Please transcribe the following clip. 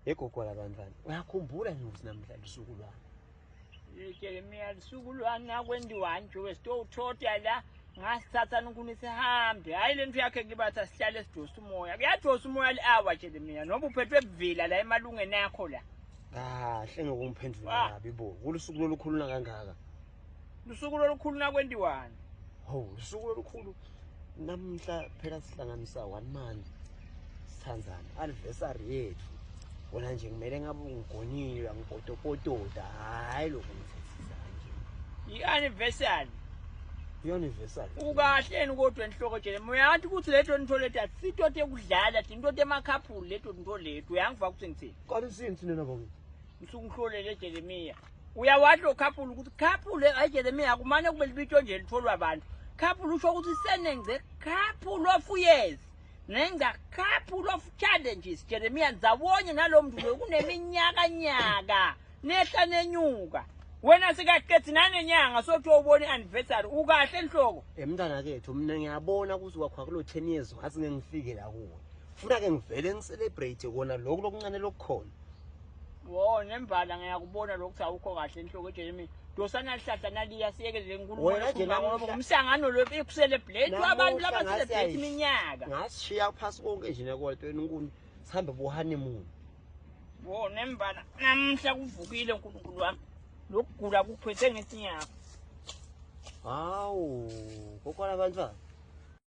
Yegogo labantwana uyakhumbula nje ukuthi namhlanje usuku lwami Jeremiya lusuku lwami ngakwendiwani nje wesitowuthotha la ngasithatha ngikhuni sihambe hhayi le nto yakhe ngibathi asihlale sidosa umoya kuyadosa umoya li-awa Jeremiya noba uphethwe buvila la emalungeni akho la kahle ngokungiphendula kabi bo kulusuku lolukhuluna kangaka Lusuku lolukhulu nakwentiwani? Ho, lusuku lolukhulu. Namhla phela sihlanganisa one month sithandana. Anniversary yethu. Wona nje kumele ngabe ungigonile angipotopotoda. Hayi lokho ngithethisa nje. I-anniversary. I-anniversary. Ukahleni kodwa enhloko jele. Muyathi ukuthi leto nto leto asito tekudlala, tinto temakhaphuli leto nto leto. Uyangiva ukuthi ngithini? Kodwa usini thina nabo. Ngisuke ngihlolele Jeremiah. Uyawasho couple ukuthi couple ayijelemi yakho mane kube libito nje litholwa abantu. Couple usho ukuthi senengce couple of years. Nenga couple of challenges Jeremiah zawonye nalomntu kuneminyaka nyaka nehla nenyuka. Wena sikaqethi nanenyanga sothi ubone anniversary ukahle enhloko. Emntana kethu mina ngiyabona ukuthi wakho kulo 10 years wathi ngengifike la kuwe. Funa ke ngivele ngicelebrate kona lokho lokuncane lokukhona. Wo nembala ngiyakubona lokuthi awukho kahle enhloko Jeremy. Dosa nalihlahla naliya siyekelele inkulumo Wena nje yokukhuluma ngoba namuhla- umsangano lo bekusele blade Namuhla abantu laba ngase celebrate yayi- iminyaka. ngasishiya phasi konke nje nekolto enkulu sihambe bohoneymoon Wo nembala namhla kuvukile uNkulunkulu wami. Lokugula kuphethe ngesinyaka. hawu kokwala abantwana